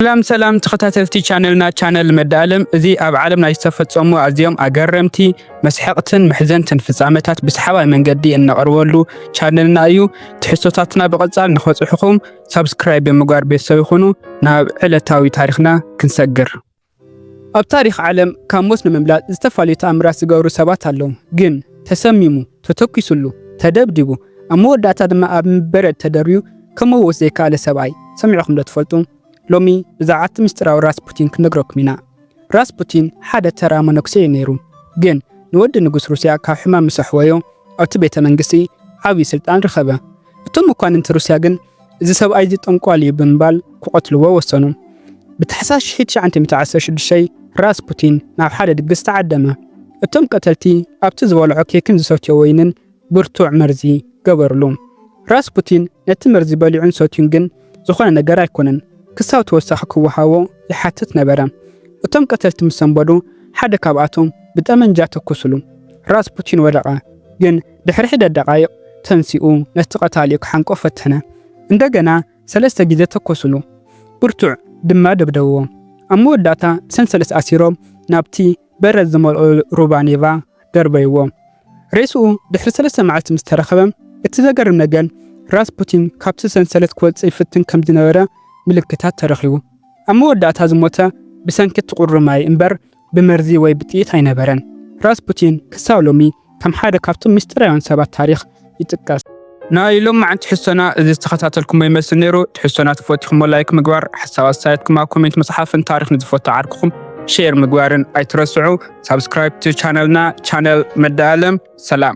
ሰላም ሰላም ተኸታተልቲ ቻነልና ቻነል መዳኣለም እዚ ኣብ ዓለም ናይ ዝተፈጸሙ ኣዝዮም ኣገረምቲ መስሐቕትን መሕዘንትን ፍጻመታት ብሰሓባይ መንገዲ እነቕርበሉ ቻነልና እዩ። ትሕዝቶታትና ብቐጻል ንኸጽሑኹም ሳብስክራይብ ብምግባር ቤተሰብ ይኹኑ። ናብ ዕለታዊ ታሪኽና ክንሰግር። ኣብ ታሪኽ ዓለም ካብ ሞት ንምምላጥ ዝተፈላለዩ ተኣምራት ዝገብሩ ሰባት ኣለዉ። ግን ተሰሚሙ፣ ተተኪሱሉ፣ ተደብዲቡ ኣብ መወዳእታ ድማ ኣብ ምበረድ ተደርብዩ ክምውት ዘይከኣለ ሰብኣይ ሰሚዕኹም ዶ ትፈልጡ? ሎሚ ብዛዕባ እቲ ምስጢራዊ ራስፑቲን ክንነግረኩም ኢና። ራስፑቲን ሓደ ተራ መነኩሴ እዩ ነይሩ፣ ግን ንወዲ ንጉስ ሩስያ ካብ ሕማም ምስ ኣሕወዮ ኣብቲ ቤተ መንግስቲ ዓብዪ ስልጣን ረኸበ። እቶም መኳንንቲ ሩስያ ግን እዚ ሰብኣይ እዚ ጠንቋሊ እዩ ብምባል ክቐትልዎ ወሰኑ። ብታሕሳስ ሽሕት ትሽዓተ ሚእቲ ዓሰርተ ሽዱሽተ ራስፑቲን ናብ ሓደ ድግስ ተዓደመ። እቶም ቀተልቲ ኣብቲ ዝበልዖ ኬክን ዝሰትዮ ወይንን ብርቱዕ መርዚ ገበርሉ። ራስፑቲን ነቲ መርዚ በሊዑን ሰትዩን ግን ዝኾነ ነገር ኣይኮነን፣ ክሳብ ተወሳኺ ክወሃቦ ይሓትት ነበረ። እቶም ቀተልቲ ምስ ሰንበዱ ሓደ ካብኣቶም ብጠመንጃ ተኩሱሉ። ራስፑቲን ወደቐ፣ ግን ድሕሪ ሒደት ደቓይቕ ተንሲኡ ነቲ ቀታሊኡ ክሓንቆ ፈተነ። እንደገና ሰለስተ ግዜ ተኮሱሉ፣ ብርቱዕ ድማ ደብደብዎ። ኣብ መወዳእታ ብሰንሰለት ኣሲሮም ናብቲ በረድ ዝመልኦ ሩባ ኔቫ ደርበይዎ። ሬስኡ ድሕሪ ሰለስተ መዓልቲ ምስ ተረኸበ፣ እቲ ዘገርም ነገር ራስፑቲን ካብቲ ሰንሰለት ክወጽእ ይፍትን ከም ዝነበረ ምልክታት ተረኺቡ። ኣብ መወዳእታ ዝሞተ ብሰንኪ እቲ ቁሪ ማይ እምበር ብመርዚ ወይ ብጥይት ኣይነበረን። ራስፑቲን ክሳብ ሎሚ ከም ሓደ ካብቶም ምስጢራውያን ሰባት ታሪኽ ይጥቀስ። ናይ ሎማዓንቲ ሕሶና እዚ ዝተኸታተልኩሞ ይመስል ነይሩ። ትሕሶና ተፈቲኹሞ ላይክ ምግባር፣ ሓሳብ ኣስተያየትኩም ኣብ ኮሜንት ምጽሓፍን ታሪኽ ንዝፈቱ ዓርክኹም ሼር ምግባርን ኣይትረስዑ። ሳብስክራይብ to ቻነልና፣ ቻነል መዳ ኣለም። ሰላም።